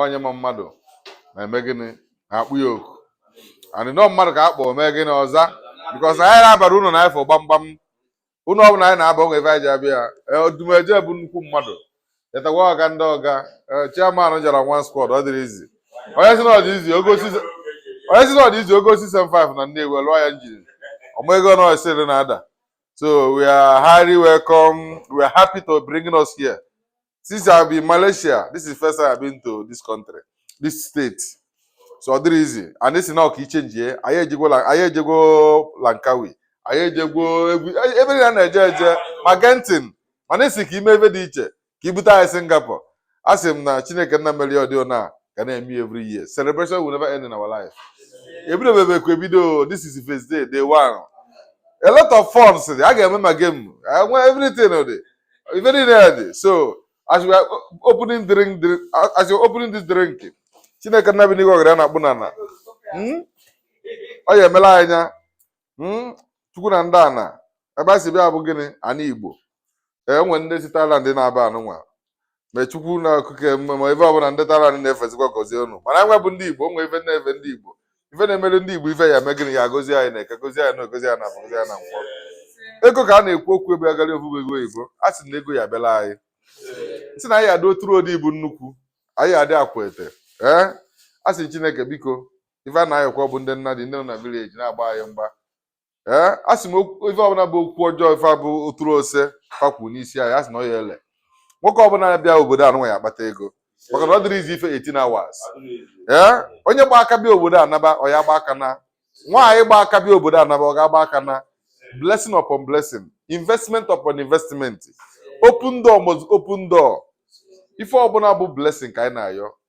onye ma mmadụ na-eme gịnị na-akpọ ya oku and ọ mmadụ ka a kpọọ mee gịnị ọ za because anyị na-abara ụnọ na ịfụ gbamgbam ụnọ ọbụla anyị na-aba o nwee ife anyị ji abịa odumeje bụ nnukwu mmadụ etakwa ọga ndị ọga chairman jara one squad ọ dịrọ easy onye sị na ọ dị easy ọ gọọ C75 na Nnewi lụọ ya njiri ọma ego na osiri na-ada so we are highly welcome we are happy to bring us here since I be Malaysia this is first time I been to this country this state so ọ dịrọ easy and a sị na ọ ka e chenjie anyị ejegwo la- anyị ejegwo Langkawi anyị ejegwo egwu e- ebe niile a na-eje eje ma Genting, mana a sị ka e mee ebe dị iche ka e bute anyị singapore a sị m na chineke nna mere ya ọdị ona ga na-eme ya every year celebration will never end in our life ebido bebe ekwe bido this is first day day one a lot of funs a ga-eme ma game enwe everything dị ife niile ya-adị so as we are opening drink drink as you opening this drink chineke nna bi n'igwe ọgọdọ ya na-akpụ n'ana hmm? ọ ya emelụ anyị ya hmm? chukwu na ndị ana ebe a si bịa bụ gịnị anị igbo e nwee ndị si Thailand n'ebe anụnwa ma chukwu nna okike ma ife ọbụla ndị Thailand na-efezikwa gọzie unu mana anyị bụ ndị igbo o nwe ife na-efe ndị igbo ife na-emere ndị igbo ife ya eme gịnị ya gọzie anyị na eke gọzie anyị na oye gọzie anyị na afọ gọzie anyị na nkwọ ego ka a na-ekwu okwu ebe a gara ofufe ego oyibo a sị na ego ya-abịara anyị sị na anyị adị oturu odi bụ nnukwu anyị adị akwa ete ee a sị chineke biko ife a na-ayọkwa bụ ndị nnadị ndị nọ na village na-agba anyị mgba ee a sị m okwu- ife ọbụla bụ okwu ọjọọ ife bụ oturu ose fakwu n'isi anyị a sị na ọ ya ele nwoke ọbụla na-abịa obodo anụnwa ya-akpata ego maka na ọ dịrọ easy ife 18 hours ee onye gba aka bịa obodo a naba ọ ya-agba aka na nwaanyị gba aka bịa obodo a naba ọ ga-agba aka na blessing upon blessing investment upon investment open door must open door ife ọbụla bụ blessing ka anyị na-ayọ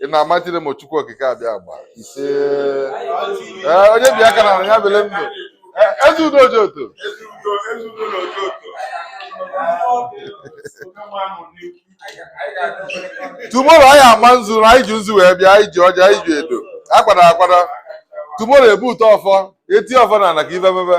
in almighty name of Chukwu Okike Abịama ise ee onye bịa ka na ya bele ndụ Ee, ezi udo ji otu tomorrow anyị ama nzu na anyị ji nzu wee bịa anyị ji ọjị anyị ji edo akwara akwara tomorrow e bute ọfọ e tie ọfọ na ana ka ife mebe